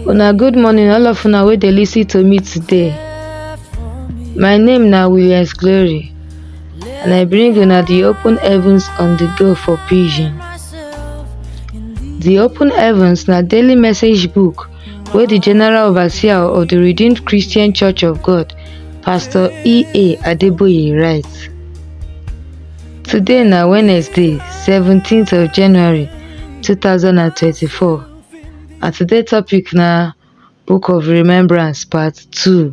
Una good morning all of una wey dey listen to me today. My name na Williams Glory and I bring una the open heavens on the go for pidgin. The open heavens na daily message book wey di general overseer of di redeemed christian church of god pastor ea adeboye write today na wednesday 17th of january 2024 and today topic na book of remembrance part 2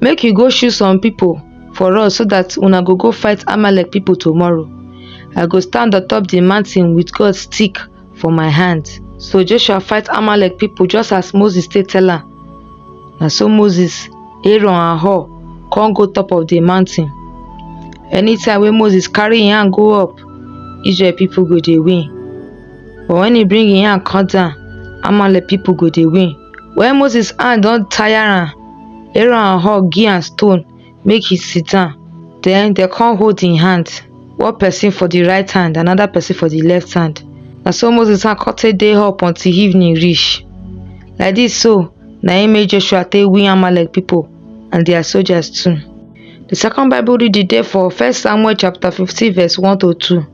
Make you go shoot some people for us so that una go go fight Amalek people tomorrow. I go stand on top the mountain with God's stick for my hand. So Joshua fight Amalek people just as Moses take tell am. Na so Moses, Aaron and Hur come go top of the mountain. Anytime wey Moses carry im hand go up, Israel people go dey win. But when he bring im hand come down, Amalek people go dey win. When Moses hand don tire am, Aaron hug give am stone make he sit down. Then dem come hold him hand, one person for the right hand, another person for the left hand. Na so Moses hand come take dey up until evening reach. Like this so, na im make Joshua take win Amalek people and their soldiers too. The second Bible reading dey for First Samuel chapter 15 verse 1 to 2.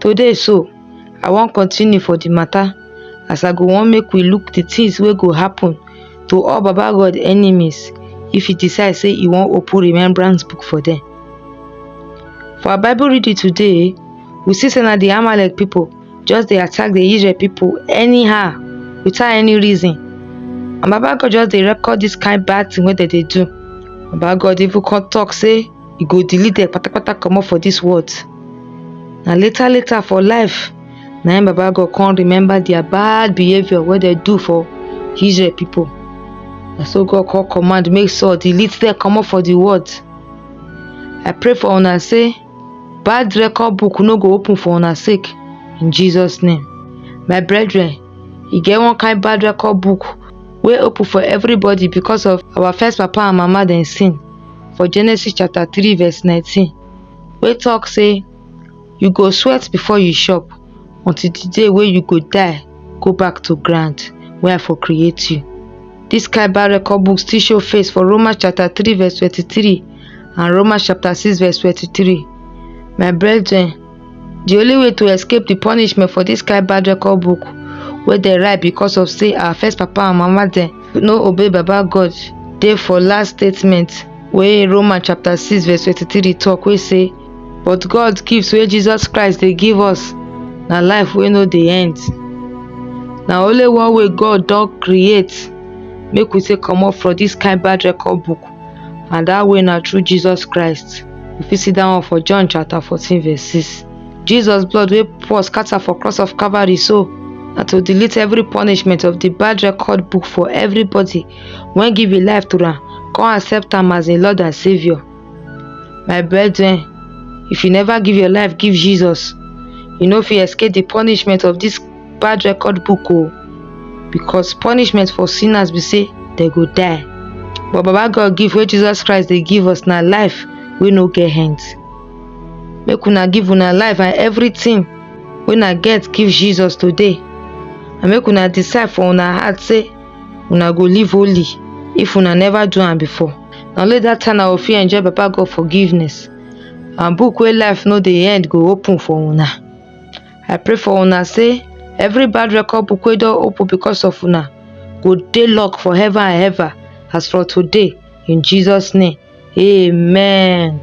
Today so, I wan continue for the matter as I go wan make we look the things wey go happen to all Baba God enemies if he decide say he wan open remembrance book for them. For our Bible reading today, we see say na the Amalek people just dey attack the Israel people anyhow without any reason. And Baba God just dey record this kind bad thing wey dem dey do. Baba God even come talk say you go delete dem patapata comot for dis world na later later for life na im baba god come remember their bad behaviour wey dem do for israel people na so god come command make saul delete dem comot for the world i pray for una say bad record book no go open for una sake in jesus name my brethren e get one kind bad record book wey open for everybody because of our first papa and mama dem sin for Genesis chapter 3 verse 19 wey talk say you go sweat before you chop until the day wey you go die go back to ground wey I for create you. This kind bad record book still show face for Romans chapter 3 verse 23 and Romans chapter 6 verse 23. My brethren, di only way to escape di punishment for dis kain bad record book wey dem write because of say our first papa and mama dem no obey baba god dey for last statement wey roman chapter six verse twenty-three talk wey say but god gift wey jesus christ dey give us na life wey no dey end na only one way god don create make we take comot for dis kain bad record book and dat way na through Jesus Christ. You fit see dat one for John chapter 14 verse 6. Jesus blood wey pour scatter for cross of Calvary so na to delete every punishment of the bad record book for everybody wey give im life to am come accept am as im Lord and Saviour. My brethren, if you never give your life give Jesus, you no fit escape the punishment of this. bad record book o because punishment for sinners be say dem go die but baba god give wey jesus christ dey give us na life wey no get end make una give una life and everything wey una get give jesus today and make una decide for una heart say una go live holy if una never do am before na only that time na go fit enjoy baba god forgiveness and book wey life no dey end go open for una i pray for una say every bad record book wey don open because of una go dey locked for heaven and ever as for today in jesus name amen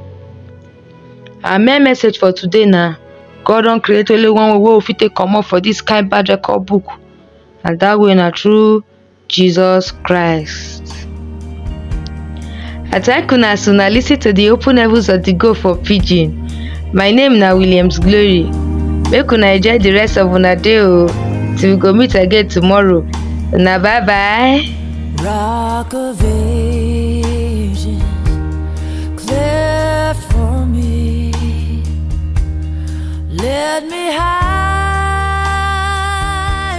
our main message for today na god don create only one way wey we fit take comot for this kind bad record book and that way na through Jesus Christ. I thank una as una lis ten to the open heavens of the go for pidgin. My name na Williams Glory. Make una enjoy the rest of una day o till we go meet again tomorrow. Una bye bye. Rock of ages, clear for me. Let me hide.